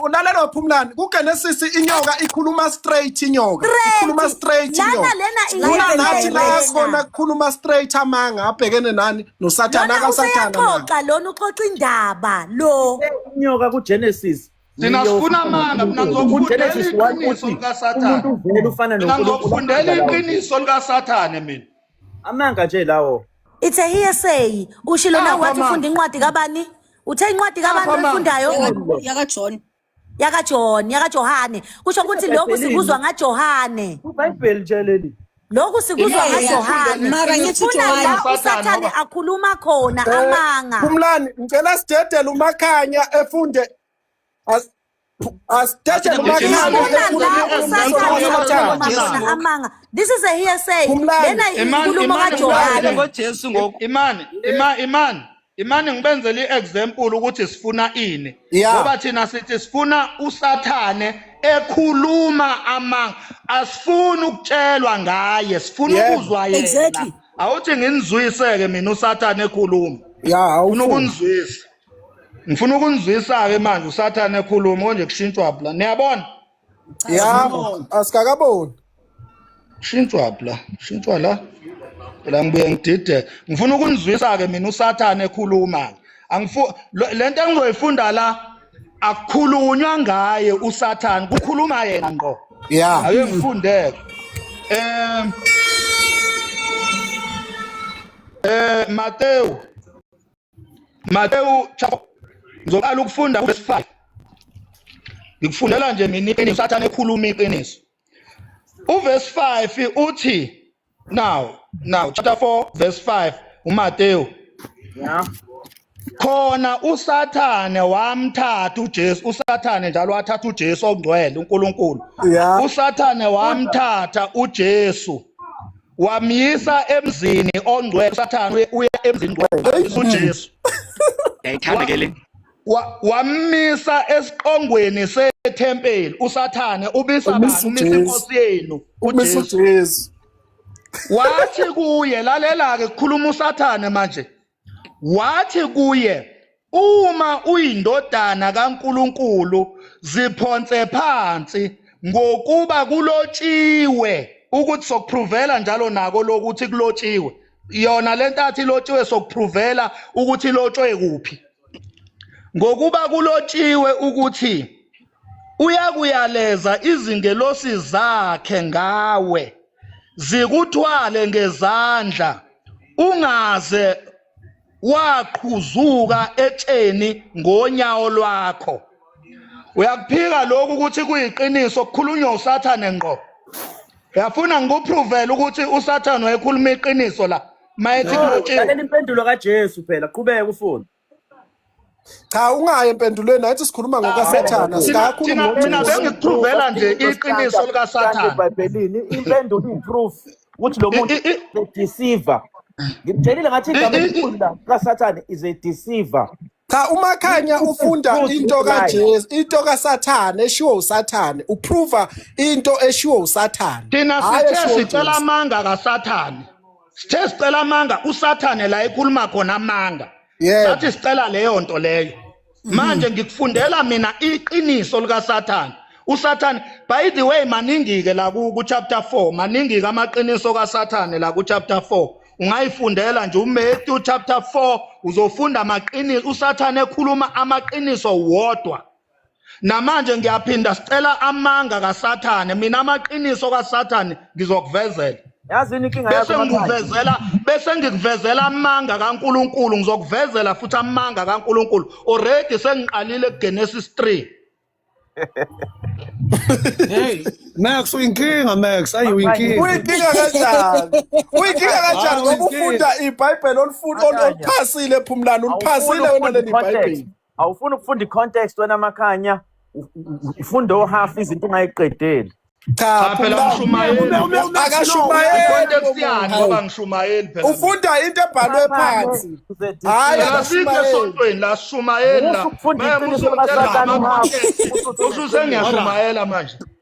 ulalela waphumlani kugenesisi inyoka ikhuluma straight inyoka ikhuluma straight inyoka nathi la sibona kukhuluma straight amanga abhekene nani nosathane akasathanaxoxa lona uxoxa indaba lo inyoka kugenesis thina sifuna amanga mina ngizokufundela iqiniso likasathane mina ngizokufundela iqiniso likasathane mina Amanga nje lawo. It's a hearsay. Ushilo Ah, na wathi come on. ufunda incwadi kabani? Uthe incwadi kabani come on. oyifundayo? Yaka- yakajohn Yaka John, yaka Johane. Kusho ukuthi lokhu Ebhayibhelini. sikuzwa nga Johane. Ubhayibheli nje leli. Lokhu sikuzwa Yeah, nga yeah, Johane. mara ngithi Ngifuna Johane. la Usathane uSathane ngoba- akhuluma khona Eh, amanga. Phumlani, ngicela sidedele umakhanya efunde as- asithethe amanga this is a hearsay lena inkulumo kajohane ngojesu ngoku imani imani imane ngibenzele i-example ukuthi sifuna ini ngoba thina sithi sifuna usathane ekhuluma amanga asifuni ukutshelwa ngaye sifuna ukuzwa yena awuthi nginizwiseke mina usathane ekhuluma ya awufuna ukunizwisa ngifuna ukunizwisa-ke manje usathane ekhuluma konje kushintshwa bla niyabona yabo asikakaboni kushintshwa bla kushintshwa la phela ngibuye ngidideke ngifuna ukunizwisa-ke mina usathane ekhuluma-ke angifu lo- le nto engizoyifunda la akukhulunywa ngaye usathane kukhuluma yena ngqo ya ake ngifundeke um um matewu Matewu chapter ngizoqala ukufunda verse 5 ngikufundela nje mina iqiniso sathane ekhuluma iqiniso uverse 5 uthi now now chapter 4 verse 5 uMatewu yeah khona usathane wamthatha uJesu usathane njalo wathatha uJesu ongcwele uNkulunkulu usathane wamthatha uJesu wamyisa emzini ongcwele usathane uye- uya emzini ngcwele ujesu yayithanda ke le Wa- wamisa esiqongweni sethempeli usathane ubisa Umisa bani umisa uJesu. inkosi yenu umisa ujesu ujesu wathi kuye lalela-ke kukhuluma usathane manje Wathi kuye, Uma uyindodana kaNkulunkulu, ziphonse phansi, ngokuba kulotshiwe, ukuthi sokuphruvela njalo nako lokuthi kulotshiwe. Yona le ntathi ilotshiwe sokuphruvela ukuthi ilotshwe kuphi. Ngokuba kulotshiwe ukuthi uyakuyaleza izingelosi zakhe ngawe. zikuthwale ngezandla ungaze waqhuzuka etsheni ngonyawo lwakho uyakuphika lokhu ukuthi kuyiqiniso kukhulunywa usathane ngqo uyafuna ngikupruvele ukuthi usathane wayekhuluma iqiniso la mayethi kulotshiwe impendulo kajesu phela qhubeka ufuna cha ungayi empendulweni athi sikhuluma ah, ngokasathana eh, sikakhuluma mina bengipruvela nje iqiniso likasathana ebhayibhelini impendulo iproof ukuthi lo muntu deceiver ngikutshelile ngathi igama elikhulu la kasathane is a deceiver cha umakhanya ufunda into kaJesu into kaSathane eshiwo uSathane uprova into eshiwo uSathane thina sithe sicela amanga kaSathane sithe sicela amanga usathane la ekuluma khona amanga yebo sathi sicela leyo nto leyo manje ngikufundela mina iqiniso likasathane usathane by the way maningi-ke la ku- ku-chapter 4 maningi-ke amaqiniso kasathane la ku-chapter 4 ungayifundela nje umatthew chapter 4 uzofunda amaqiniso usathane ekhuluma amaqiniso wodwa Namanje ngiyaphinda sicela amanga kaSathane mina amaqiniso kaSathane ngizokuvezela. Yazini inkinga yakho Bese ngikuvezela bese ngikuvezela amanga kaNkuluNkulu ngizokuvezela futhi amanga kaNkuluNkulu. Already sengiqalile kuGenesis 3. Hey, Max uyinkinga Max, ayi uyinkinga. Uyinkinga kanjani? Uyinkinga kanjani ngoba ufunda iBhayibheli olifunda oluphasile ephumlana uliphasile wena leli iBhayibheli. awufuni ukufunda i-context wena makhanya ufunda ohafu izinto ungayiqedeli cha phela ngishumayeli akashumayeli context yani ngoba ngishumayeli phela ufunda into ebhalwe phansi hayi asike esontweni la shumayeli la manje usuzengiyashumayela manje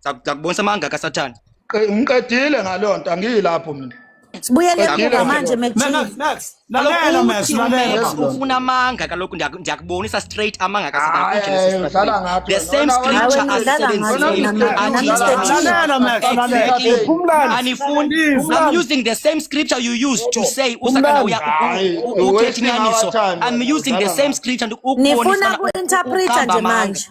Sakubonisa amanga kaSathane. Ngiqedile ngaloo nto angiyilapho mina. Sibuyele kuba manje mekufuna amanga kaloku ndiyakubonisa straight amanga kasidlala ngathi the same scripture asisebenzisianifuni i'm using the same scripture you use to say usakana uthethi nyaniso i'm using the same scripture ukubonisa nifuna ku-interpreta nje manje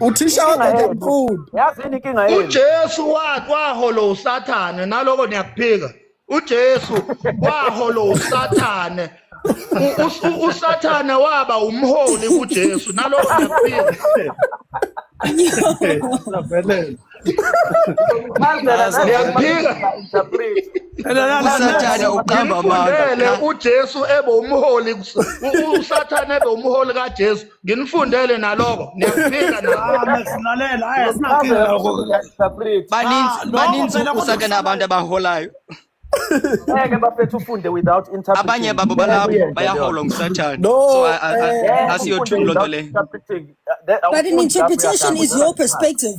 uthisha wakho nje mkhulu yazi yini inkinga yenu uJesu wa- waholo usathane naloko niyakuphika uJesu waholo usathane U- us- u- usathane waba umholi kuJesu naloko niyakuphika Savelele. Mandela Azi, niyakuphika usathane uqamba amanga nimfundele uJesu ebe umholi kus- u- u- usathane ebe umholi kaJesu nginifundele naloko niyakufika nabaninzi usake nabantu abaholayo ngeke bafethu ufunde without interpreting abanye babo balapho bayaholwa ngusathane so asiyothulo nto le but an interpretation is your perspective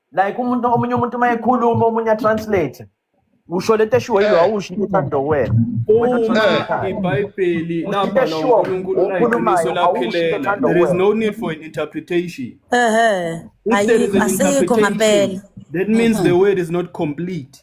like umuntu omunye umuntu uma ekhuluma omunye atranslate usho lento eshiwo yilo eh. awusho into ethando wena uma ibhayibheli lapha la uNkulunkulu uyiqiniso laphelela there is no need for an interpretation ehe ayikho ngampela that means the word is not complete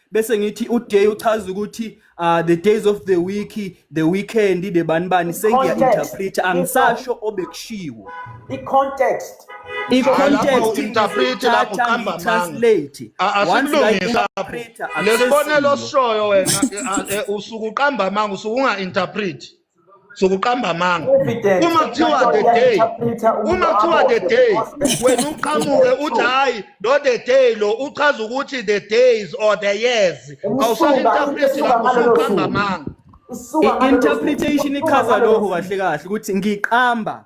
bese ngithi uday uchaza ukuthi uh, the days of the week the weekend the bani bani sengiya-interpreta angisasho obekushiwo i-context i-contextinterpretelaphoqambamangitranslate oncelesibonelo sishoyo wena usuke uqamba amanga usuke unga-interpreti zokuqamba amanga uma kuthiwa the day uma kuthiwa the day wena uqhamuke uthi hayi lo the day lo uchaza ukuthi the days or the years awusalinterpreti lapho usuqamba amanga i-interpretation ichaza lokho kahle kahle ukuthi ngiqamba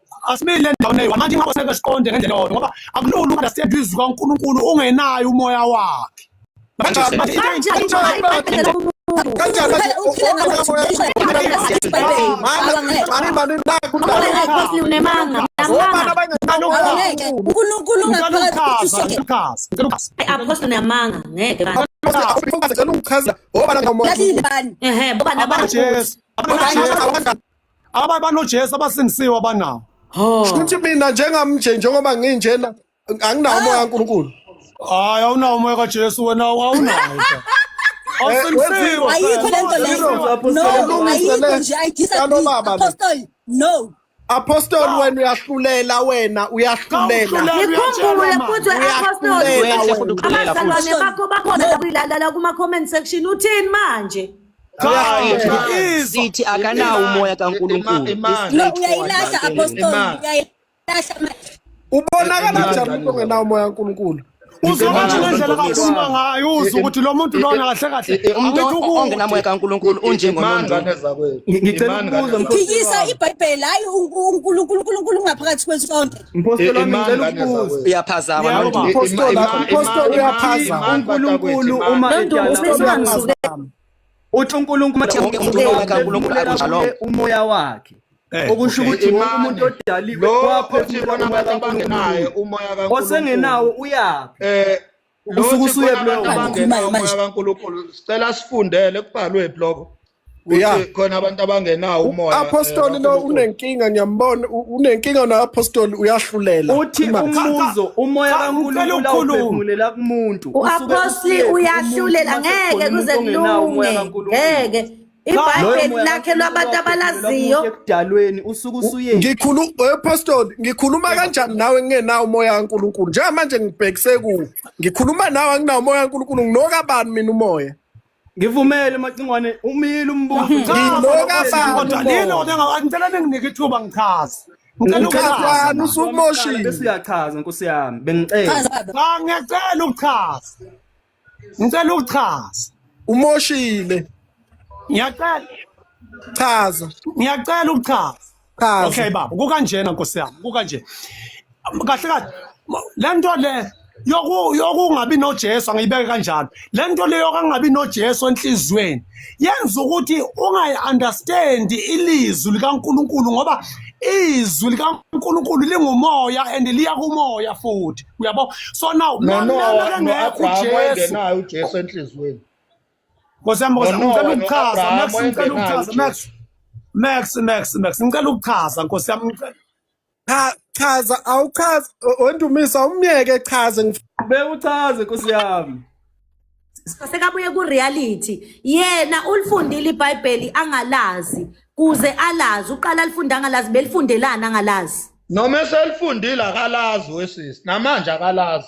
asimile endaweni eyi manje ingakho sebe siqonde ngendlela yodwa ngoba akulula ukundasetha izwi kaNkulunkulu ungenayo umoya wakhe unkulunkulu ungaphakathi namanga ngeke Aba banoJesu abasindisiwe abanawo. Oh. Futhi mina njengamnje njengoba nginjena anginawo umoya kaNkulunkulu. Hayi awunawo umoya kaJesu wena awunawo. Awusindisiwe. Ayikho lento leyo. No, ayikho nje I disagree. Apostle, no. Apostoli wena uyahlulela wena uyahlulela. Ngikhumbule futhi we-apostoli. Abazalwane bakho bakhona la kuyilala la kuma-comment section uthini manje? sithi akanawo umoya kaNkulunkulu uyayilahla apostoli uyayilahla manje ubonakala kanjani umuntu ongenawo umoya kaNkulunkulu uzokwathi ngendlela kakhuluma ngayo uzwe ukuthi lo muntu lona kahle kahle e, e, umuntu ongenamoya kaNkulunkulu unjengomuntu ngicela ukubuza phikisa ibhayibheli hayi uNkulunkulu ungaphakathi kwesonto Mphostoli wami ngicela ukubuza. Uyaphazama manje. Mphostoli mphostoli uyaphazama. UNkulunkulu uma ephazama. Uthi uNkulunkulu uNkulunkulu umoya wakhe. Eh, okusho ukuthi wonke umuntu odaliwe kwaphefumula umoya kaNkulunkulu. Osengenawo uyaphi? Eh usuke usuye kulomoya kaNkulunkulu sicela sifundele kubhalwe bloko ukuthi khona abantu abangenawo umoya apostoli eh, lo unenkinga ngiyambona unenkinga na apostoli uyahlulela uthi umbuzo umoya kaNkulunkulu uphumulela kumuntu uapostoli uyahlulela ngeke kuze kulunge ngeke ibhayibheli lakhe lwabantu abalaziyo ekudalweni usuke usuyeni ngikhulu eh, pastor ngikhuluma kanjani nawe ngingenawo umoya kaNkuluNkulu njengamanje ngibhekise ku ngikhuluma nawe anginawo umoya kaNkuluNkulu nginoka bani mina umoya ngivumele macingwane umile umbuzo nginoka bani kodwa lino kodwa ngicela ninginike ithuba ngichaze Ngicela usumoshile. Besiyachaza nkosi yami. Bengicela. Ngiyacela ukuchaza. ngicela ukuchaza umoshile ngiyacela chaza ngiyacela ukuchaza chaza okay baba kukanjena nkosi yami kukanje kahle kahle le nto le yokungabi nojesu angiyibeke kanjalo le nto le yokungabi nojesu enhliziyweni yenza ukuthi ungayi-understandi ilizwi likaNkulunkulu ngoba izwi likaNkulunkulu lingumoya and liya kumoya futhi uyabo so now nanalakengekho ujesu ujesu enhliziyweni nkosi yami nkosi ngicela ukuchaza max ngicela ukuchaza max max max max ngicela ukuchaza nkosi yami ngicela Cha chaza awuchazi wendumisa umyeke chaze ngif- Bewuchaze Nkosi yami. sekabuye ku-reality yena ulifundile ibhayibheli angalazi kuze alazi uqala alifunde angalazi belifundelani angalazi noma eselifundile akalazi wesisi namanje akalazi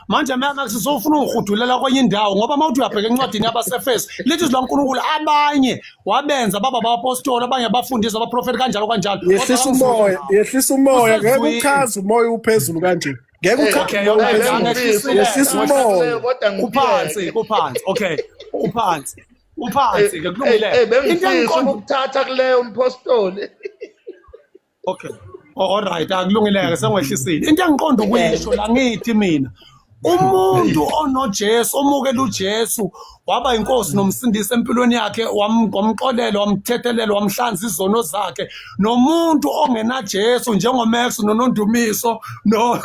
manje mamax sofuna ukurhudulela kwenye indawo ngoba uma uthi uyabheka encwadini yabasefeso lithi izwi lankulunkulu abanye wabenza baba bapostoli abanye abafundisi abaprofeti kanjalo kanjalo yehlisa umoya yehlisa umoya ngeke uchaze umoya uphezulu kanje ngeke uchazeyehlisa umoya kuphansi kuphansi okay uphansi uphansi ke kulungile into engikhombukuthatha kuleyo mpostoli okay oh, all right akulungeleke sengwehlisile into engiqonda ukuyisho la ngithi mina umuntu onoJesu omukela uJesu waba inkosi nomsindisi empilweni yakhe wamxolela wamthethelela wamhlanza izono zakhe nomuntu ongenaJesu njengoMax nonondumiso no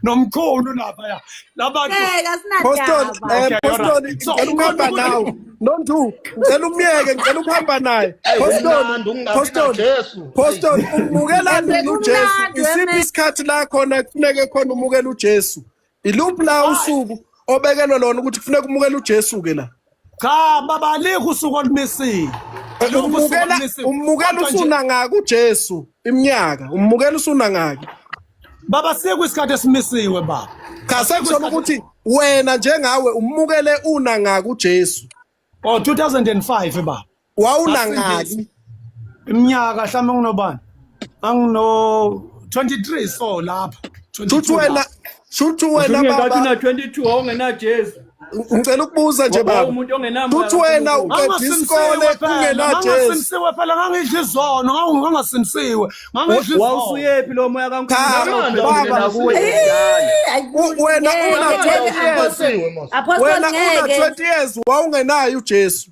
nomkhulu lapha ya labantu Ngeke Poston, asinandaba. eh, Okay, Poston, alright. So, ngicela ukuhamba ukhona nawe. ukuthi- Nontu, ngicela umyeke, ngicela ukuhamba naye. Eyi, Poston, kumnandi ukungabi Poston, naJesu. Poston, umukelani Kumnandi, uJesu? kumnandi, Isiphi wena. isikhathi la khona kufuneke khona umukele uJesu? Iluphi la usuku obekelwe lona ukuthi kufuneka umukele uJesu-ke la? cha baba alikho usuku olumisiwe umbukela umbukela usuna ngaka uJesu iminyaka umbukela usuna ngaka baba siku isikhathi esimisiwe baba cha sekusona ukuthi wena njengawe umukele una ngaka uJesu oh 2005 baba wawunangaki iminyaka mhlawumbe nginobani angino 23 so lapha shuthi wena shuthi wena baba 22 awungenajezi ngicela ukubuza nje baba uthi wena uqeda isikole ungenajesiwe phela ngangidla izono ngangasimsiwe wawusuyephi lo moya kankulunkuluwena una-20 years wawungenayo ujesu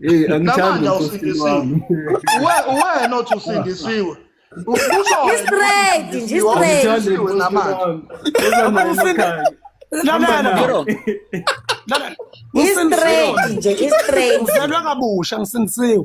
Hey, angithandi usindisiwe. Uwena othi usindisiwe. Ngistraight, ngistraight. Ngistraight nje, ngistraight. Ngizalwa kabusha ngisindisiwe.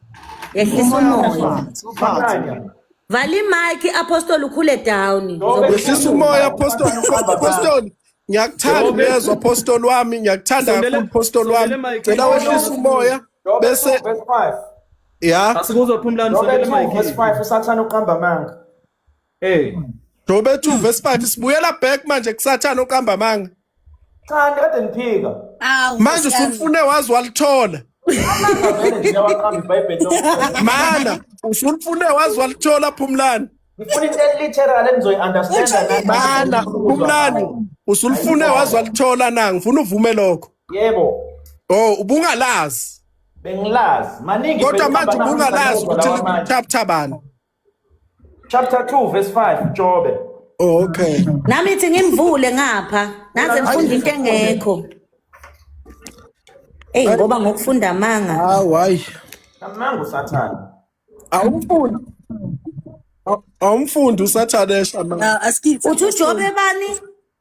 yehlisa umoya vala imike apostoli ukhule down yehlisa umoya apostoli apostoli ngiyakuthanda uyezwa apostoli wami ngiyakuthanda kakhulu apostoli wami cela wehlisa umoya bese ya asikuzophumlani sondela mike usathana uqamba amanga Eh. Do bethu Vesipati sibuyela back manje kusathana oqamba amanga. Cha ndikade ngiphika. Awu. Manje Nkosi yami. usufune wazi walithola. Amanga vele nje yawaqamba iBhayibheli lokho. Mana usufune wazi walithola Phumlani. Ngifuna into eliteral engizoyi understand nami. Mana Phumlani usulifune wazi walithola na ngifuna uvume lokho. Yebo. Oh ubungalazi. Bengilazi. Maningi Kodwa vele manje ubungalazi ukuthi lawa manje. lithabathabani. chapter 2 verse 5 Jobe Oh, okay. Nami ithi ngimvule ngapha. Naze ngifunda into engekho. Ey ngoba ngokufunda amanga. Hawu hayi. Amanga usathane. Awumfundi. Awumfundi usathane esha manje. Uthi uJobe bani?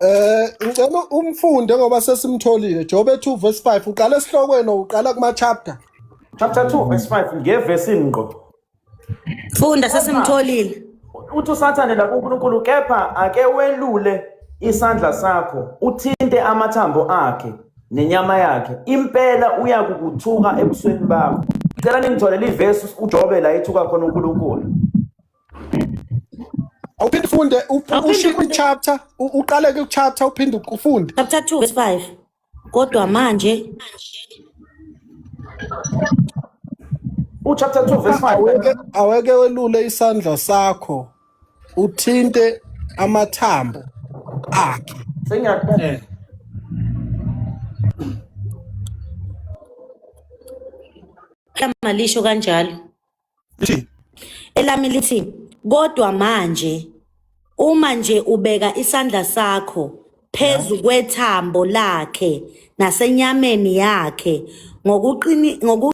Eh ngicela umfunde ngoba sesimtholile Job 2 verse 5 uqala esihlokweni uqala kuma chapter. Chapter 2 verse 5 ngevesi ngqo. Funda sesimtholile. Uthi uSathane la kuNkulunkulu kepha ake welule isandla sakho uthinte amathambo akhe nenyama yakhe impela uyakukuthuka ebusweni bakho. Ngicela ningitholele ivesi uJobe la ethuka khona uNkulunkulu. awuphinde ufunde ushiye kwi-chapter uqale kwi-chapter uphinde ufunde chapter 2 verse 5 kodwa manje uchapter 2 verse 5 aweke welule isandla sakho uthinte amathambo akhe sengiyakuphela eh. lama lisho kanjalo lithi elami lithi kodwa manje uma nje ubeka isandla sakho phezu kwethambo lakhe nasenyameni yakhe ngokuqini ngoku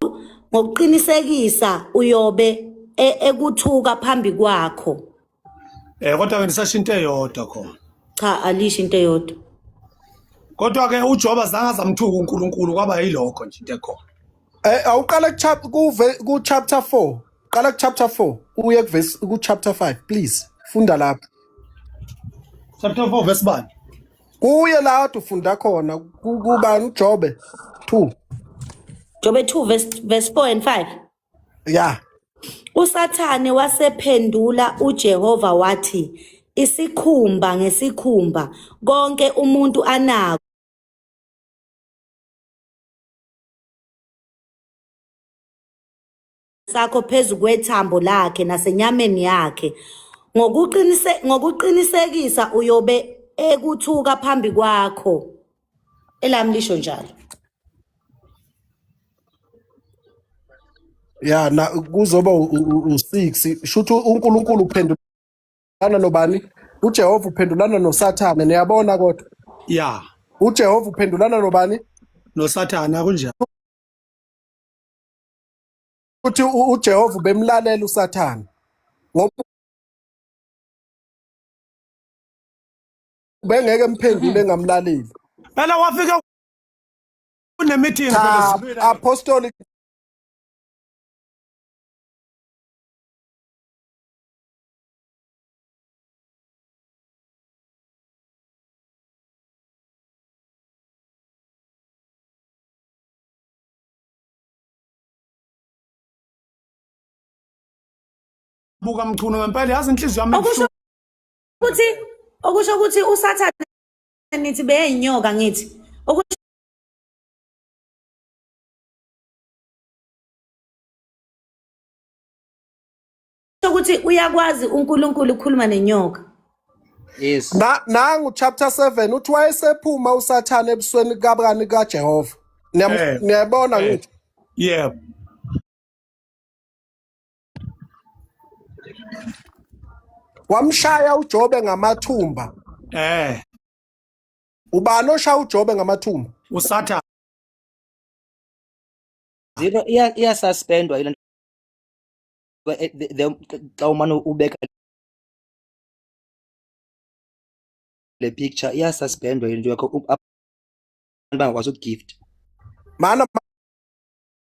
ngokuqinisekisa uyobe e- ekuthuka phambi kwakho Eh kodwa ke nisasho into eyodwa khona. Cha alisho into eyodwa. Kodwa ke uJoba zange azamthuka uNkulunkulu kwaba yilokho nje into ekhona. Eh awuqala ku chap- ku ve- ku chapter 4. Qala ku chapter 4 uye ku verse ku chapter 5 please. Funda lapho. Chapter 4 verse bani? Kuye la ufunda khona ku- kubani uJobe 2. Jobe 2 verse verse 4 and 5. ya usathane wasephendula ujehova wathi isikhumba ngesikhumba konke umuntu anako sakho phezu kwethambo lakhe nasenyameni yakhe ngokuqinisekisa uyobe ekuthuka phambi kwakho elami lisho njalo ya na kuzoba u-6 shuthi uNkulunkulu uphendulana nobani uJehova uphendulana noSathane niyabona kodwa ya uJehova uphendulana nobani noSathane akunjalo uthi uJehova bemlalela uSathane ngoba bengeke mphendule ngamlaleli phela wafike kunemeeting cha apostolic buka mchunu ngempela yazi inhliziyo yami ukuthi okusho ukuthi usathane nithi beyinyoka ngithi okusho ukuthi uyakwazi uNkulunkulu ukukhuluma nenyoka yes na nangu chapter 7 uthi wayesephuma usathane ebusweni kabani kaJehova eh. niyabona eh. ngithi yebo wamshaya uJobe ngamathumba eh ubani oshaya uJobe ngamathumba usathane zero iya iya suspendwa ile eh, xa umane ubeka le picture iya suspendwa into yakho abantu bangakwazi ukugift mana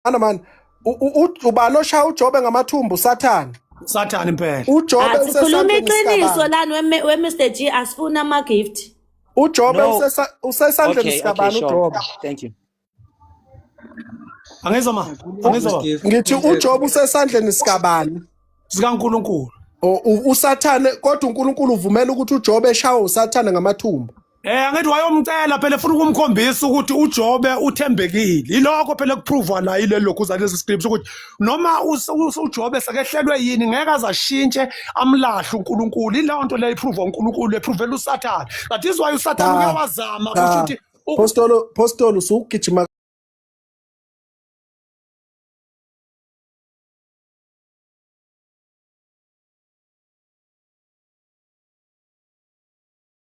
Ana man u- u- u- ubani oshaya uJobe ngamathumbu sathane. sathane impela UJobe Asikhuluma usesandleni iqiniso sikabani. lani we- we Mr G asifuna ama gift. UJobe No. usesa- usesandleni Okay, okay, sikabani sure. uJobe. Thank you. angizwa ma angizwa baba Gift. Ngithi uJobe usesandleni sikabani. sikaNkuluNkulu O- u- USathane kodwa uNkulunkulu uvumela ukuthi uJobe eshawe uSathane ngamathumbu. Eh angithi wayomcela phela ufuna ukumkhombisa ukuthi uJobe uthembekile. Ilokho phela kuprove la ile lokhu za lezi scripts ukuthi noma uJobe sekehlelwe yini ngeke azashintshe amlahle uNkulunkulu. Ileyo nto le iprove uNkulunkulu eprove uSathane. That is why uSathane uyawazama kusho ukuthi Postolo postolo usugijima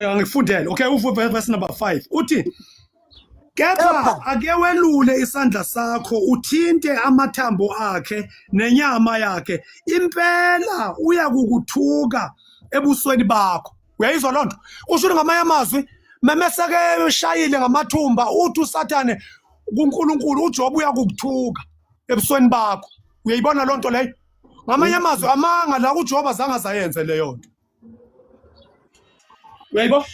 angifundele okay uvuve verse number 5 uthi kepha Kepha. ake welule isandla sakho uthinte amathambo akhe nenyama yakhe impela uyakukuthuka ebusweni bakho uyayizwa lonto usho ukuthi ngamanye amazwi memeseke eshayile ngamathumba uthi usathane kuNkulunkulu uJobe uyakukuthuka ebusweni bakho uyayibona lonto leyo ngamanye amazwi amanga la uJobe azange azayenze leyo nto uyayibo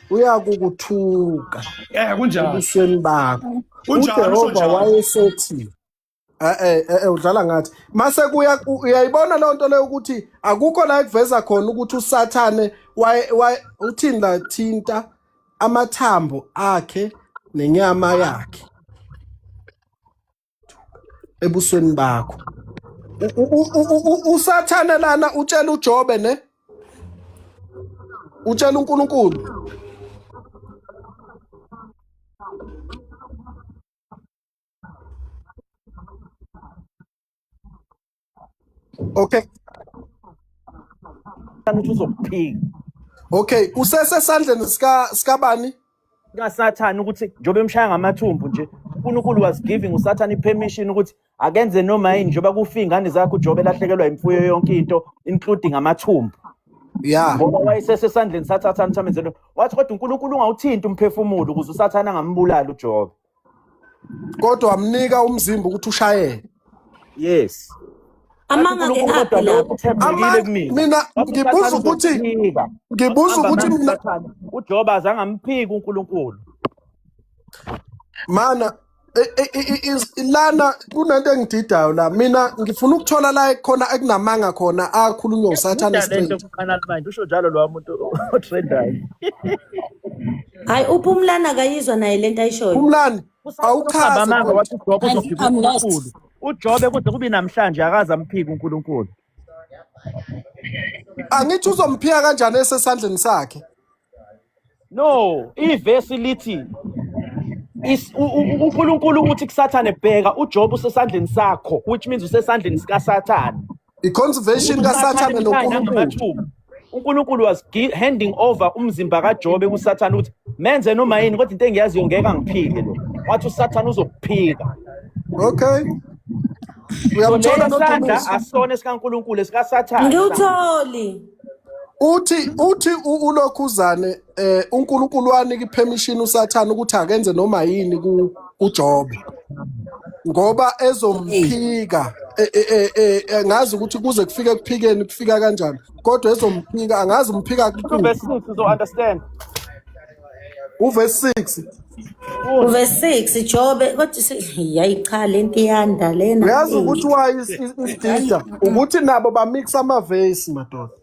uyakukuthuka eh kunjalo ebusweni bakho Kunjalo, usho ujehova njalo. wayesethi eh eh eh, eh, udlala ngathi mase kuya u- uyayibona loo nto leyo ukuthi akukho la ekuveza khona ukuthi usathane waye- waye- uthini la thinta amathambo akhe nenyama yakhe ebusweni bakho usathane lana utshela uJobe ne utshela uNkulunkulu Okay. Kanti uzokuphika. Okay, usese sandleni sika sikabani? kaSathane ukuthi njengoba emshaya ngamathumbu nje uNkulunkulu was giving uSathane ipermission ukuthi akenze noma yini njengoba kufa ingane zakhe uJobe elahlekelwa imfuyo yonke into including amathumbu yeah ngoba wayesesesandleni saThathane uThamenzelo wathi kodwa uNkulunkulu ungawuthinti umphefumulo ukuze uSathane angambulali uJobe kodwa wamnika umzimba ukuthi ushayele yes amanga ke aphi lapho uthembekile kumina mina ngibuza ukuthi ngibuza ukuthi mina uJoba azange amphiki uNkulunkulu mana lana kunento engididayo la mina ngifuna ukuthola la khona ekunamanga khona akhulunywa usathane straight usho njalo lo muntu otrendayo hayi uphumlani akayizwa naye lento ayishoyo Phumlani awuchaze Amanga kodwa. wathi uJobe Guys, uzophika I'm lost. uNkulunkulu. UJobe kuze kube namhlanje akaze amphike uNkulunkulu. angithi uzomphika kanjani esesandleni sakhe No, ivesi lithi is- u- u- u- uNkulunkulu uthi kuSathane bheka uJobe usesandleni sakho which means usesandleni sikaSathane. I-conservation kaSathane noNkulunkulu. uNkulunkulu was handing over umzimba kaJobe kuSathane ukuthi menze noma yini kodwa into engiyaziyo ngeke angiphike lo. Wathi uSathane uzokuphika. Okay. Uyamthola noDumisa. Asona sikaNkulunkulu esikaSathane. Ngiwutholi. Uthi uthi ulokhuzane eh uNkulunkulu wanike permission uSathane ukuthi akenze noma yini ku uJob ngoba ezomphika eh, eh, eh, eh, eh, ngazi ukuthi kuze kufike kuphikeni kufika kanjani kodwa ezomphika angazi umphika Two kuthini verse six uzo understand. uverse 6 Uthi Verse 6 Jobe kodwa si- yayi cha lento iyanda lena uyazi eyi ukuthi why is- is- hayi isidida ukuthi nabo bamixa amavesi madoda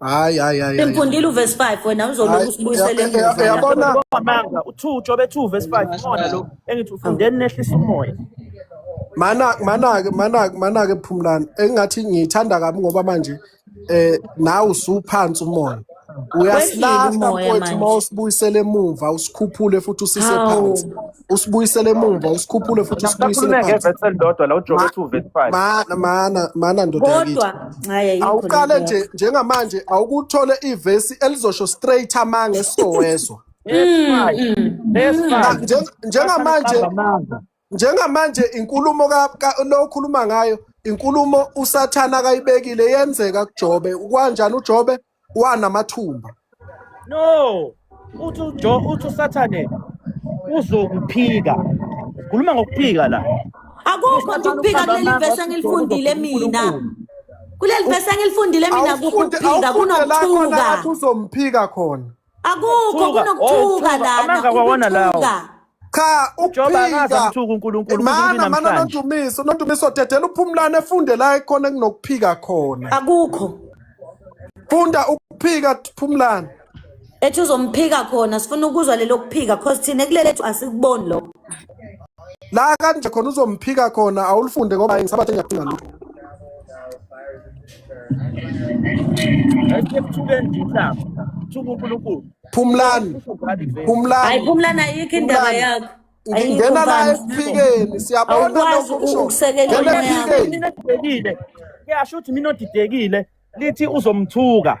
hayi hayi hayi simfundile uverse 5 wena uzolokhu usibuyisele emuva yabona amanga u2 jobe 2 verse 5 khona lo engithi ufundeni nehlisa umoya mana mana mana mana ke phumlani engathi ngiyithanda kabi ngoba manje eh nawe usuphansi umoya uyasilahla mfowethu uma usibuyisele emuva usikhuphule futhi usise phansi usibuyisele emumva usikhuphule futhi usibuyisele Nakhululeke phansi evesi elilodwa la ujobe ethi uverify. mana mana mana ndoda yakithi kodwa hhayi ayikho awuqale lento nje yakho njengamanje awukuthole ivesi elizosho straight amanga esizowezwa That's Mm, right. mm, That's mm. Na- right. nje- njengamanje Qamba amanga. njengamanje inkulumo ka- ka- lo okhuluma ngayo inkulumo usathane akayibekile yenzeka kujobe kwanjani ujobe wanamathumba no uthi ujo uthi usathane uzokuphika khuluma ngokuphika la akukho nje ukuphika kuleli vesi engilifundile mina kuleli vesi engilifundile mina kukho ukuphika kunokuthuka uzomphika khona Akukho Ukuthuka. Oh, kunokuthuka ukuthuka. lana. Amanga kwawona lawo. ukuthuka. cha Joba akaze ukuphika amthuka uNkulunkulu kuze mana kube mana namhlanje. nondumiso nondumiso dedela uphumlane efunde la ekhona kunokuphika khona Akukho. funda ukuphika phumlane Ethi uzomphika khona sifuna ukuzwa lelo kuphika cause thina kulelethu asikuboni lokho. la kanje khona uzomphika khona awulifunde ngoba ngisabathe ngiyaphinga lutho Phumlani. Phumlani. Hayi Phumlani ayikho indaba yakho. Ngingena la esiphikeni siyabona lokho kusho. Ngena esiphikeni. Mina ngidekile. Kuyasho ukuthi mina odidekile lithi uzomthuka.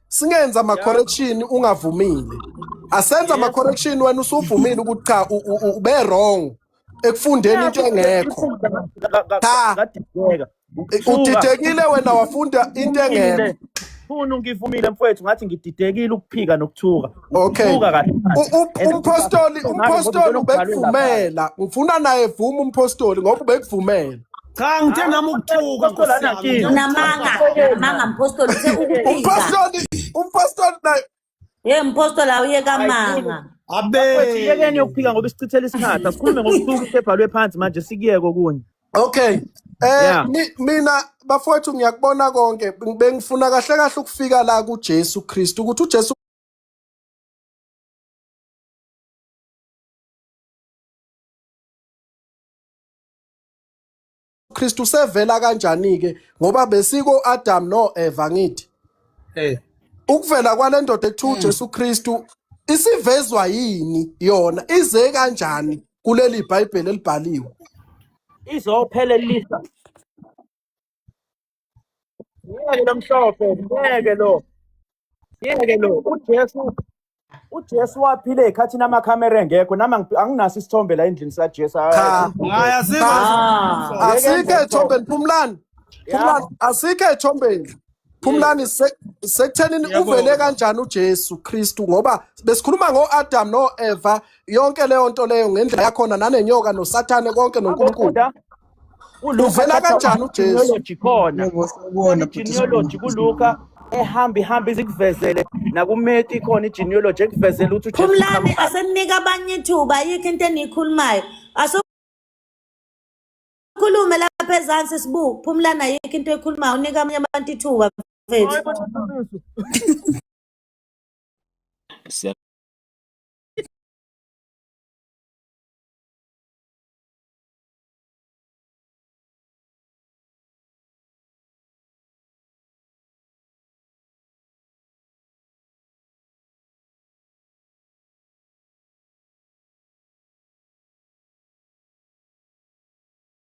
singenza ama correction ungavumile asenza ama correction wena usuvumile ukuthi cha u- u- u- ube wrong ekufundeni into engekho Cha. kadideka udidekile wena wafunda into engekho funa ungivumile mfowethu ngathi ngididekile ukuphika nokuthuka Okay. Buka kahle. U- u- And Umphostoli, uMavi kodwa umphostoli ubona kubhalwe lapha. ubekuvumela. Ngifuna naye vuma umphostoli ngoba ubekuvumela. Cha ngithe nami ukuthuka Nkosi Nkosi yami. yami. unamanga unamanga mpostoli uthe ukuphika Umphostoli, umphostoli naye ye mpostoli awuyeka manga Mfethu, yekeni Abe. yokuphika ngoba isichithela isikhathi asikhulume ngokusuka isebhalwe phansi manje sikuyeke okunye Okay. Eh Yeah. mi- mina bafowethu ngiyakubona konke bengifuna kahle kahle ukufika la kuJesu Kristu ukuthi uJesu uKristu sevela kanjani-ke ngoba besiko-Adamu no-Eva ngithi Eh, ukuvela kwale ndoda ekuthiwa mm. uJesu Kristu isivezwa yini yona ize kanjani kuleli Bhayibheli elibhaliwe izophelelisa Ngeke lo mhlophe, ngeke lo. Ngeke lo. UJesu uJesu waphila ezikhathini amakhamera engekho nami angi- anginaso isithombe la endlini sikaJesu. Cha. Hayi asikho Ah. asikho ethombeni phumlani phumlani asikho ethombeni phumlani se- sekuthenini Ngiyabonga. uvele kanjani ujesu kristu ngoba besikhuluma ngo-adam no-eva yonke leyo nto leyo ngendlela yakhona nanenyoka nosathane konke nonkulunkulu Ufunda uvela kanjani ujesu khona genealogy kuluka ehamba ihamba izikuvezele nakumeti khona igenealogy ekuvezele ukuthi phumlani asemnika abanye ithuba ayikho into eniyikhulumayo asokhulume lapha ezansi sibuku phumlani ayikho into ekhulumayo unika abanye abantu ithuba mfethu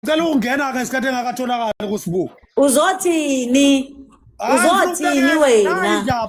Cela ukungena ke isikhathi engakatholakali kusibuku. Uzothini? Uzothini wena?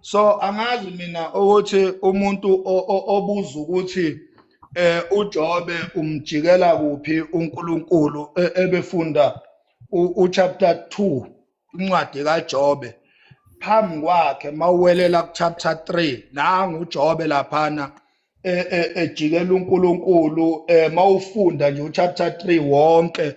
so angazi mina ukuthi umuntu obuza ukuthi eh uJobe umjikela kuphi uNkulunkulu e, ebefunda uchapter 2 incwadi kaJobe phambi kwakhe mawuwelela kuchapter 3 nangu uJobe laphana e, e, ejikela uNkulunkulu eh, mawufunda nje uchapter 3 wonke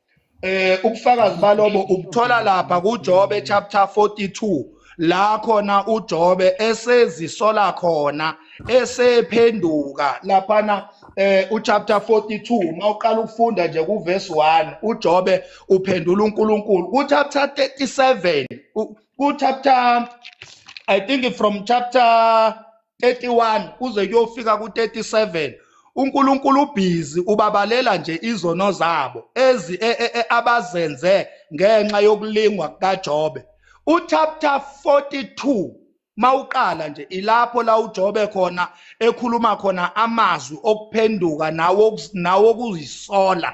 eh ubufakazi balobo ubuthola lapha kuJobe chapter 42 la khona uJobe esezisola khona esephenduka laphana eh uchapter 42 mawuqala ukufunda nje kuverse 1 uJobe uphendula uNkulunkulu kuchapter 37 kuchapter i think from chapter 31 kuze kuyofika ku-37 uNkulunkulu ubhizi ubabalela nje izono zabo ezi e, e, e, abazenze ngenxa yokulingwa kukaJobe uchapter 42 mawuqala nje ilapho la uJobe khona ekhuluma khona amazwi okuphenduka nawo nawokuzisola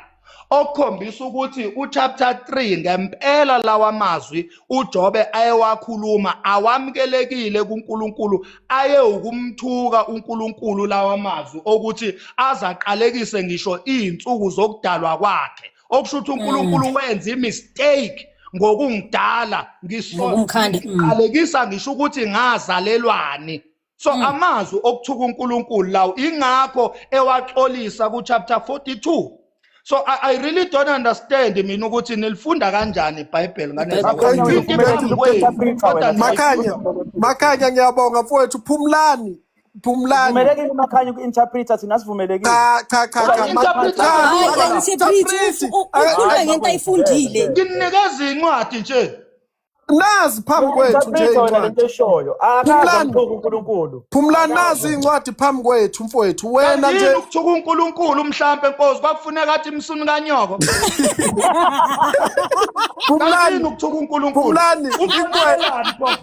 okukhombisa ukuthi uchapter 3 ngempela lawa mazwi uJobe ayewakhuluma awamukelekile kuNkulunkulu aye ukumthuka uNkulunkulu lawa mazwi okuthi azaqalekise ngisho izinsuku zokudalwa kwakhe okusho ukuthi uNkulunkulu mm. wenza imistake ngokungidala ngisho mm. ngisho ukuthi ngazalelwani so mm. amazwi okuthuka uNkulunkulu lawo ingakho ewaxolisa ku chapter 42 so I, I really don't understand mina ukuthi nilifunda kanjani iBhayibheli ngane makhanya makhanya ngiyabonga mfowethu phumlani phumlani sivumelekile makhanya uku-interpreta thina sivumelekile cha cha cha cha interpreta ukhuluma ngento ayifundile nginikeza incwadi nje nazi phambi kwethu nje incwadi phumlani nazi incwadi phambi kwethu mfowethu wena nje ukuthuka unkulunkulu mhlampe nkosi kwakufuneka athi msuni kanyoko phumlani ukuthuka unkulunkulu phumlani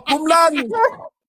phumlani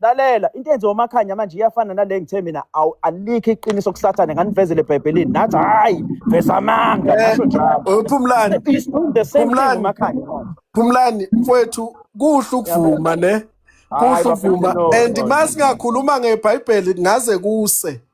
lalela into enziwa umakhanya manje iyafana nale ngithe mina awu alikho iqiniso kusathane nganivezele ebhayibhelini nathi hhayi veza amanga Eh, ngasho njalo eh, Phumlani, It's doing the same thing Phumlani, umakhanya manje Phumlani mfwethu kuhle ukuvuma ne. Hayi Kuhle bafethu ukuvuma no and no no. masingakhuluma ngeBhayibheli ngaze kuse.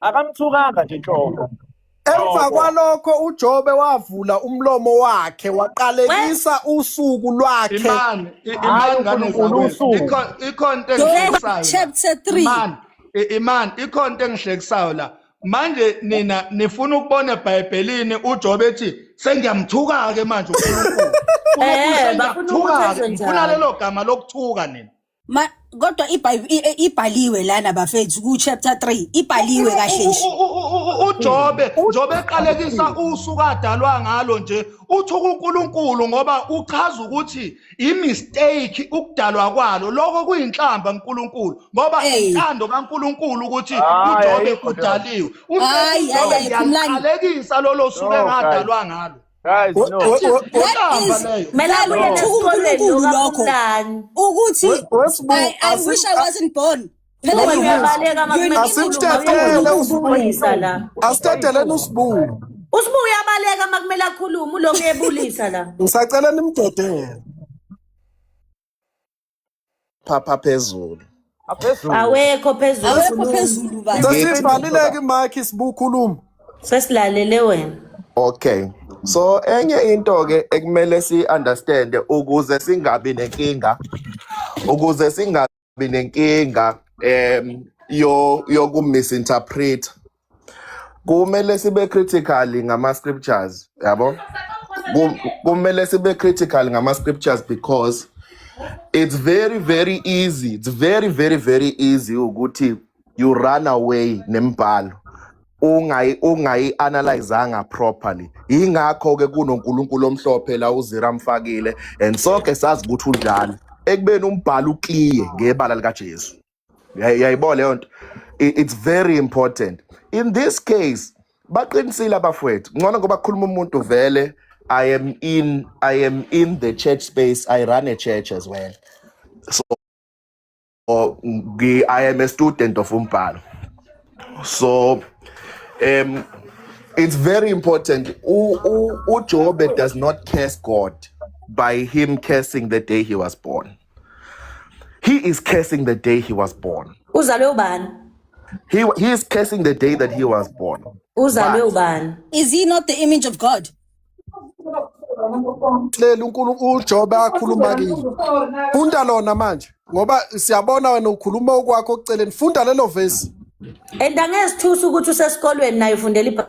akamthukanga nje nhlobo Emva kwalokho uJobe wavula umlomo wakhe waqalekisa usuku lwakhe. Imani, imani ngane zakwethu. Ikhona into engihlekisayo. Chapter 3. Imani, imani ikhona into engihlekisayo la. Manje nina nifuna ukubona eBhayibhelini uJobe ethi sengiyamthuka-ke manje uNkulunkulu. Eh, bafuna ukuthi Ngifuna lelo gama lokuthuka nina. Ma kodwa iBhayibh- i- i- ibhaliwe lana bafethu ku chapter 3 ibhaliwe kahle nje. U- u- u- u- ujobe njobe eqalekisa usuku adalwa ngalo nje uthi kunkulunkulu ngoba uchaza ukuthi imistake ukudalwa kwalo lokho kuyinhlamba nkulunkulu ngoba Hey. intando kankulunkulu ukuthi Hayi, ujobe ayikho leyo. udaliwe Hayi, hayi, ujobe hayi, phumlani. ngiyaliqalekisa lolo suku No, engadalwa ngalo Guys, no. ukuthi I wish I wasn't born. Asithathele usibuku. Usibuku uyabaleka makumele akhulume uloku ebulisa la. Ngisacela nimdedele. phapha phezulu aphezulu awekho phezulu awekho khuluma phezulu baba Ngithi- sesivalileke imakhi sibukhuluma sesilalele wena okay so enye into ke ekumele si understand ukuze singabi nenkinga ukuze singabi nenkinga em yo yokumisinterpret kumele sibe critical ngama scriptures yabo Kum- kumele sibe critical ngama scriptures because it's very very easy it's very very very easy ukuthi you run away nembhalo ungayi ungayi analyzanga properly ingakho ke kunoNkulunkulu omhlophe la uzira amfakile and sonke sazi ukuthi unjalo ekubeni umbhalo uclear ngebala likaJesu yayibona leyo nto it's very important in this case baqinisile abafowethu ngcono ngoba khuluma umuntu vele i am in i am in the church space i run a church as well so i am a student of umbhalo so um it's very important ujobe does not curse god by him cursing the day he was born He is cursing the day he was born. uzalwe ubani He, he is cursing the day that he was born. uzalwe But- ubani Is he not the image of God? Lela uNkulunkulu uJobe akhuluma kini. Funda lona manje ngoba siyabona wena ukhuluma okwakho okuceleni. Funda lelo verse. and angezithusa ukuthi usesikolweni naye ufundela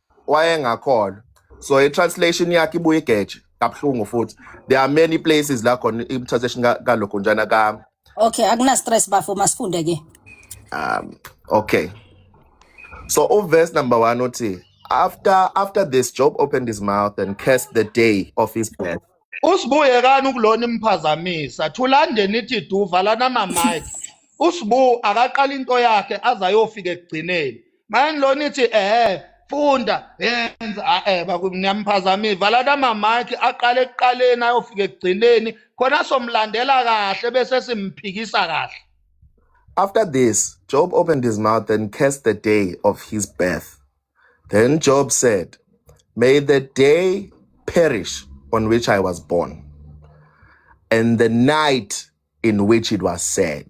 wayengakholwa so i-translation yakhe ibuye igeje kabuhlungu futhi there are many places la khona i-translation ka- kalokho njana kami okay akuna stress bafo masifunde ke um okay so uverse number one uthi after after this job opened his mouth and cursed the day of his birth usibuyekani ukulona imphazamisa thulande nithi du valana mamike usibu akaqala into yakhe aze ayofika ekugcineni manje lona ithi ehe funda yenza eh bakumnyamphazamile vala namamaki aqale ekuqaleni ayofika ekugcineni khona somlandela kahle bese simphikisa kahle After this, Job opened his mouth and cursed the day of his birth. Then Job said, May the day perish on which I was born, and the night in which it was said.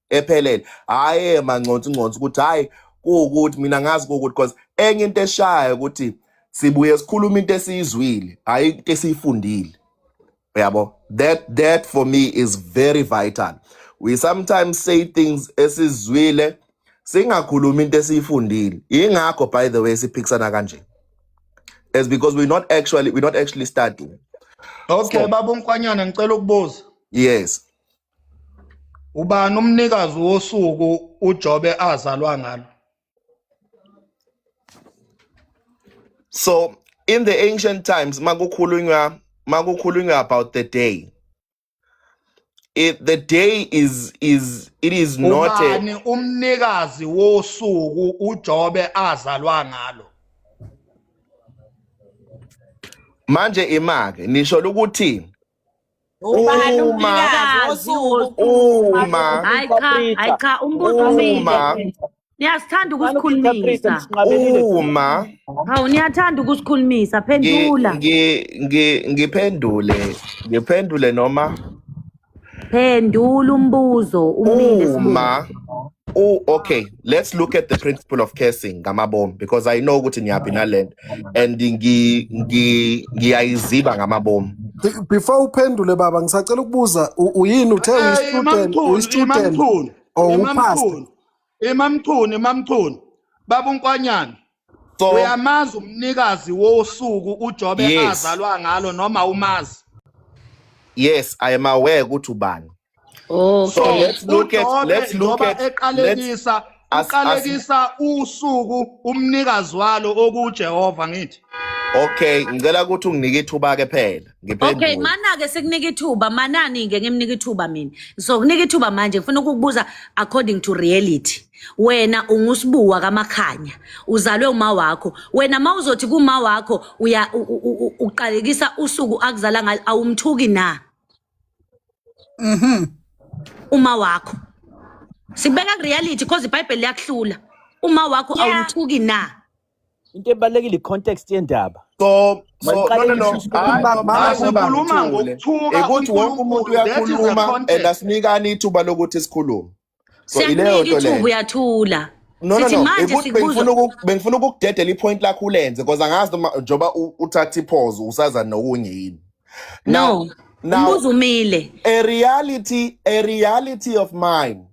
ephelele hhayi emanconsi nconsi ukuthi hhayi kuwukuthi mina ngazi kuwukuthi cause enye into eshayo ukuthi sibuye sikhuluma into esiyizwile hhayi into esiyifundile uyabo that that for me is very vital we sometimes say things esizwile singakhulumi into esiyifundile ingakho by the way siphikisana kanje is because we not actually we not actually studying okay baba unkwanyana ngicela ukubuza yes Ubani umnikazi wosuku uJobe azalwa ngalo? So in the ancient times makukhulunywa makukhulunywa about the day it, the day is is it is not a, ubani umnikazi wosuku uJobe azalwa ngalo manje imake nisho ukuthi ubani Uma- umnikazi wosuku Uma hayi cha hayi cha umbuzo Uma. umile niyasithanda ukusikhulumisa uma hawu niyathanda ukusikhulumisa ngi- phendula ngi- ngi- ngiphendule ngiphendule noma phendula umbuzo umile sibuze. uma u okay let's look at the principle of cursing ngamabomu because i know ukuthi niyaphi nalento and ngi- ngi- ngiyayiziba ngamabomu Be- before uphendule baba ngisacela ukubuza u- uyini uthe Eh, uyi-student imamchunu uyi-student imamchunu or upast imamchunu imamchunu imamchunu baba unkwanyana so uyamazi umnikazi wosuku uJobe yes azalwa ngalo noma umazi yes i am aware ukuthi ubani so okay let's look at uJobe let's look njengoba at let's eqalekisa as as uqalekisa usuku umnikazi walo okuJehova ngithi okay ngicela ukuthi unginike ithuba ke phela okay mana-ke sikunika ithuba manani-ke ngimnika ithuba mina so kunika ithuba manje ngifuna ukukubuza according to reality wena ungusibuwa kamakhanya uzalwe uma wakho wena ma uzothi kuma wakho uya uqalekisa usuku akuzala ngalo awumthuki na mhm uma wakho sibeka reality because ibhayibheli liyakuhlula uma wakho awumthuki na into ebalulekile i-context yendaba so so no Maliqale no no ishushu hayi Mama, no mama, hayi mama, uba ukhuluma ngijule ngokuthuka ukuthi wonke umuntu uNkulunkulu. That is the uyakhuluma and context. asinikani ithuba lokuthi sikhulume so siyakunika ileyo nto ithuba leyo uyathula no no sithi no manje ukuthi bengifuna sikubuzwa uku- bengifuna ukukudedela ipoint lakho ulenze because angazi noma njengoba u- uthatha iphozo usaza nokunye yini now no now umbuzo umile a reality a reality of mine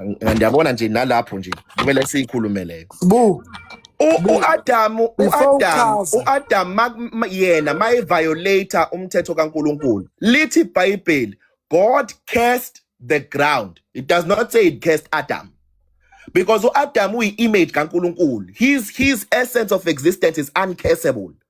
Ng- Ngiyabona nje nalapho nje kumele siyikhulume leyo. Bu, U- bu, U-Adamu before u-Adamu uchaza. u-Adamu ma- ma- yena mayeviolate umthetho kaNkulunkulu. Lithi iBhayibheli God cursed the ground. It does not say it cursed Adam. Because u-Adamu uyi-image kaNkulunkulu. His his essence of existence is uncursable.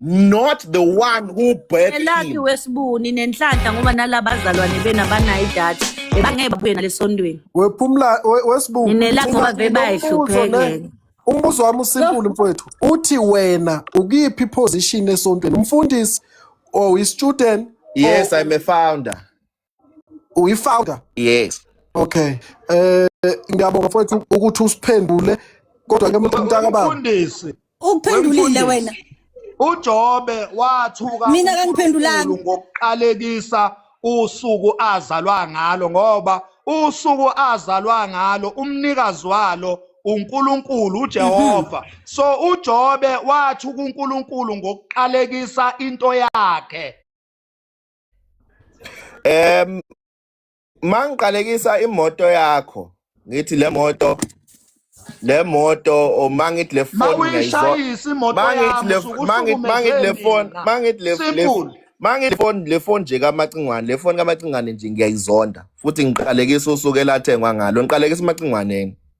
not the one who birthed elakhe him wesibuni nenhlanhla ngoba nalaba bazalwane bena banayo idatha bangeke babuye nalesondweni wephumla we- wesibungu Ninelakho Mina bave nginombuzo ne- bayihluphekele. umbuzo wami usimpulu mfowethu uthi wena ukuyiphi iposition esontweni umfundisi or i-student yes or- i'm a founder uyifounder yes okay eh ngiyabonga mfowethu ukuthi usiphendule kodwa ke mntaka baba mfundisi ukuphendulile wena uJobe wathuka mina kangiphendulanga ngokuqalekisa usuku azalwa ngalo ngoba usuku azalwa ngalo umnikazi walo uNkulunkulu uJehova mhm. so uJobe wathi kuNkulunkulu ngokuqalekisa into yakhe Em mangiqalekisa imoto yakho ngithi le moto le moto or mangithi le phone ngiyayizwa mawuyishayisa imoto mangithi yami le usuke mangithi mangithi uhlukumeze le phone mina mangithi le le simple mangithi le phone le phone nje kamacingwane le phone kamacingwane nje ngiyayizonda futhi ngiqalekisa usuku elathengwa ngalo ngiqalekisa umacingwaneni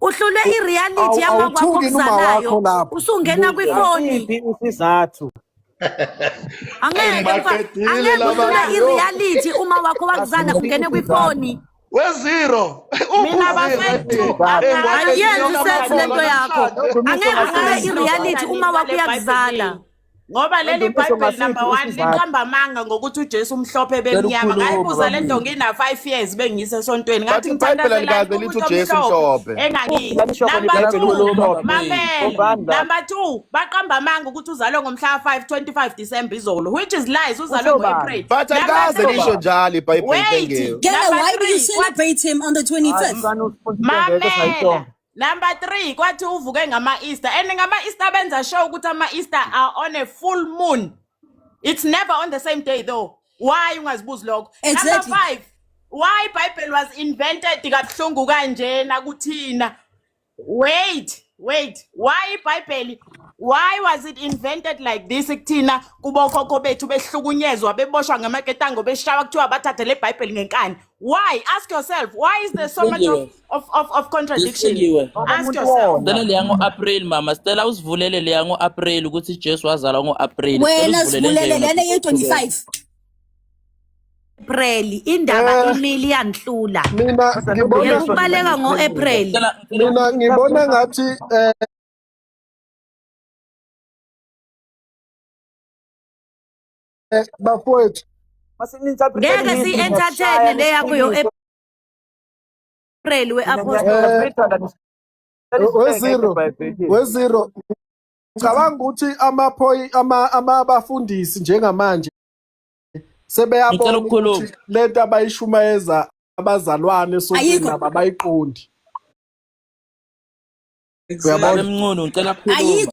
uhlulwe i-reality Awu- yamakwakho awuthuki noma okuzalayo wakho lapho. usungena kwifoni Isiphi isizathu? angeke mfa- Ungibaqedile angeke laba uhlulwe bantu. i-reality uma wakho wakuzala ungene kwifoni wezero Mina bafethu, ayenzi sense lento yakho angeke uhlulwe i-reality uma wakho yakuzala ngoba leli bhayibheli number one liqamba amanga ngokuthi ujesu umhlophe bemnyama ngayibuza le nto ngina-five years bengiyise esontweni ngathi ngithandazelangithujesuhlophenumber two baqamba amanga ukuthi uzalwe ngomhlaka five twenty five december izolo which is lies uzalwe ngo-april but ayikaze lisho njalo ibhayibheli wait why do you celebrate him on the twenty fifth mamela Number 3 kwathi uvuke ngama Easter and ngama Easter benza show ukuthi ama Easter are on a full moon. It's never on the same day though. Why ungazibuzi lokho? Exactly. Number 5 why Bible was invented kabuhlungu kanjena kuthina. Wait, wait. Why Bible why was it invented like this kuthina kubokhokho bethu behlukunyezwa beboshwa ngamaketango beshawa kuthiwa bathathe le Bible ngenkani. why ask yourself why is there so much of, of, of, of contradiction ask yourself Stella leya ngo-april mama Stella usivulele leya ngo-april ukuthi jesu wazalwa ngo-april wena sivulele lena ye-25 April indaba eh. imili yanhlula mina ngibona ukubaleka ngo April mina ngibona ngathi eh, eh, bafowethu ngeke si-entertaine le yakho yo april we-apostolwezero wezero cabanga ukuthi amaphoyi amabafundisi njengamanje sebeyabona ukuthi le nto abayishumayeza abazalwane esontweni nabo abayiqondi uyabona mncunu ngicela kukhuluma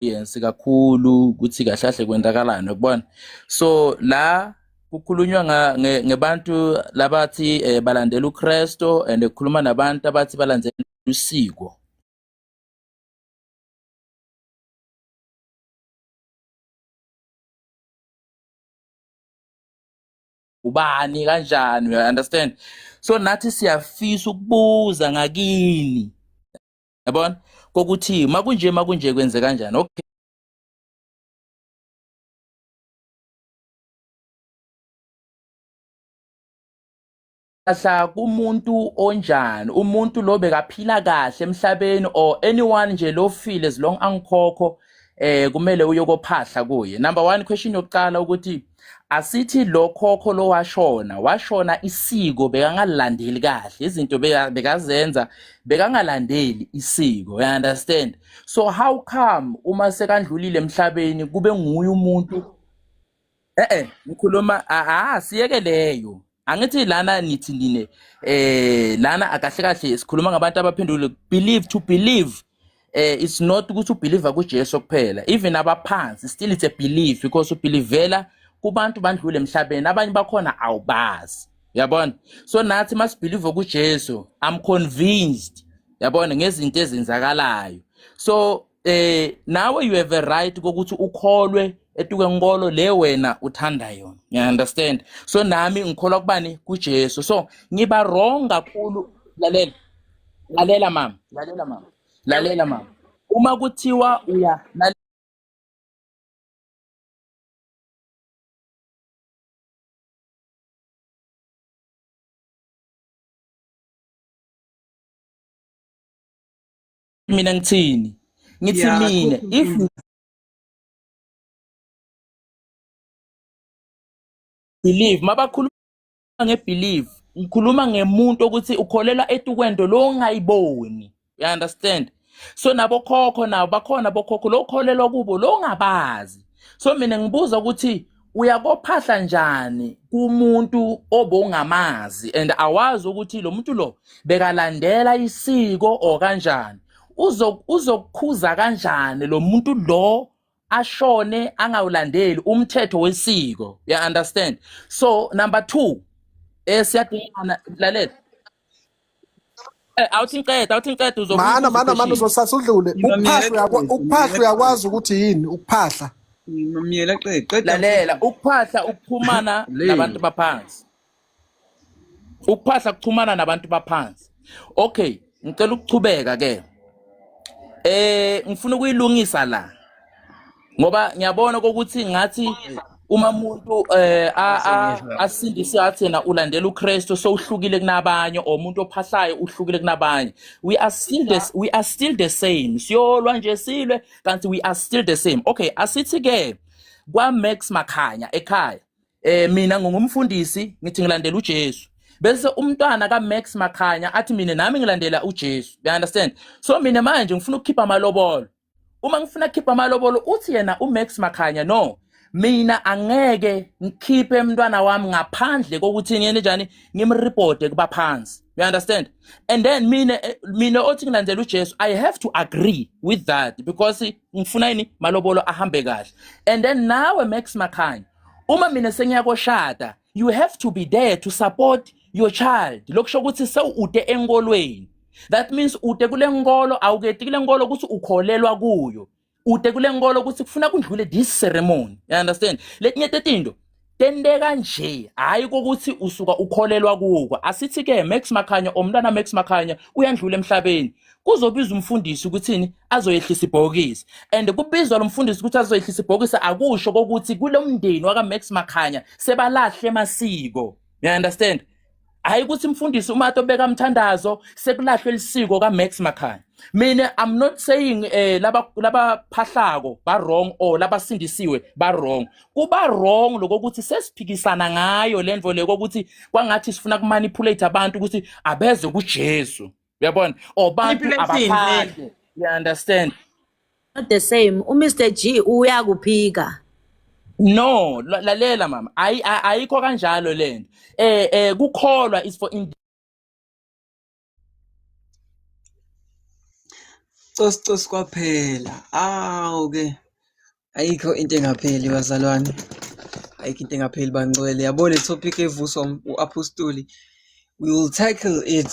yensi kakhulu ukuthi kahle kahle kwentakalani ukubona so la kukhulunywa ngebantu labathi eh, balandela uKristu and kukhuluma nabantu abathi balandela usiko ubani kanjani you understand so nathi siyafisa ukubuza ngakini yabona kokuthi makunje makunje kwenze kanjani okay kahle kumuntu onjani umuntu lo bekaphila kahle emhlabeni or anyone nje lofile as long angikhokho eh kumele uyokophahla kuye number 1 question yokuqala ukuthi asithi lo khokho lo washona washona isiko bekangalandeli kahle izinto beka- bekazenza bekangalandeli isiko you understand so how come uma sekandlulile emhlabeni kube nguye umuntu eh eh ngikhuluma ah ah, siyeke leyo angithi lana nithi nine eh lana akahle kahle sikhuluma ngabantu abaphendule believe to believe eh it's not ukuthi ubelieve kuJesu kuphela even abaphansi still it's a belief because ubelievela kubantu bandlule emhlabeni abanye bakhona awubazi yabona so nathi masibelieve kuJesu i'm convinced yabona ngezinto ezenzakalayo so eh nawe you have a right kokuthi ukholwe etuke nkolo le wena uthanda yona you understand so nami ngikholwa kubani kuJesu so ngiba wrong kakhulu lalela lalela mama lalela mama lalela mama uma kuthiwa uya mina ngithini ngithi Yeah, mina akukho if inkinga. believe mabakhuluma ngebelieve ngikhuluma ngemuntu ukuthi ukholelwa etukwento lo ongayiboni you understand so nabokhokho nabo bakhona bokhokho lo ukholelwa kubo lo ungabazi so mina ngibuza ukuthi uyakophahla njani kumuntu obongamazi and awazi ukuthi lo muntu lo bekalandela isiko or kanjani uzokukhuza kanjani lo muntu lo ashone angawulandeli umthetho wesiko ya understand so number 2 eh siyadingana lalela Eh, awuthi ngiqeda awuthi ngiqeda uzobuza mana ubuze mana mana upheshile uzosasa udlule ukuphahla Ngimamyela uyakwa- qede, ukuphahla ngimamyela uyakwazi ukuthi yini ukuphahla ngimamyela qede, qeda lalela mfundisi. ukuphahla ukuxhumana Le. nabantu baphansi ukuphahla kuxhumana nabantu baphansi okay ngicela ukuchubeka ke eh ngifuna ukuyilungisa la ngoba ngiyabona kokuthi ngathi uma umuntu eh asindiswe athi yena ulandela uKristu sowuhlukile kunabanye or umuntu ophahlayo uhlukile kunabanye we are still the, we are still the same siyolwa nje silwe kanti we are still the same okay asithi ke kwa Max Makhanya ekhaya eh mina ngingumfundisi ngithi ngilandela uJesu bese umntwana ka Max Makhanya athi mina nami ngilandela uJesu you understand so mina manje ngifuna ukukhipha amalobolo uma ngifuna khipha amalobolo uthi yena uMax Makhanya no mina angeke ngikhiphe umntwana wami ngaphandle kokuthi ngene njani ngimreporte kubaphansi you understand and then mina eh, mina othi ngilandela uJesu i have to agree with that because ngifuna yini malobolo ahambe kahle and then nawe Max Makhanya uma mina sengiyakoshada you have to be there to support your child lokusho ukuthi sewude enkolweni that means ude kule nkolo awuketi kule nkolo ukuthi ukholelwa kuyo ude kule nkolo ukuthi kufuna kundlule this ceremony you understand letinye tetinto tenteka nje hayi kokuthi usuka ukholelwa kuko asithi ke Max Makhanya omntana Max Makhanya uyandlula emhlabeni kuzobiza umfundisi ukuthini azoyehlisa ibhokisi and kubizwa lo mfundisi ukuthi azoyehlisa ibhokisi akusho kokuthi kulo mndeni wakamax makhanya sebalahle masiko you understand hayi ukuthi mfundisi uma atobeka mthandazo sekulahlwe lisiko kaMax Makhanya mina i'm not saying eh laba laba phahlako ba wrong or laba sindisiwe ba wrong kuba wrong lokho ukuthi sesiphikisana ngayo lento le ukuthi kwangathi sifuna kumanipulate abantu ukuthi abeze kuJesu uyabona or bantu Impilo emfini. abaphandle you understand Not the same. UMr G uyakuphika. no la- lalela mama ayi- a- ayikho kanjalo lento eh eh kukholwa is for in Cos cos kwaphela. Awu ke. ayikho into engapheli bazalwane ayikho into engapheli bangcwele yabo le topic evuswa u-apostoli we will tackle it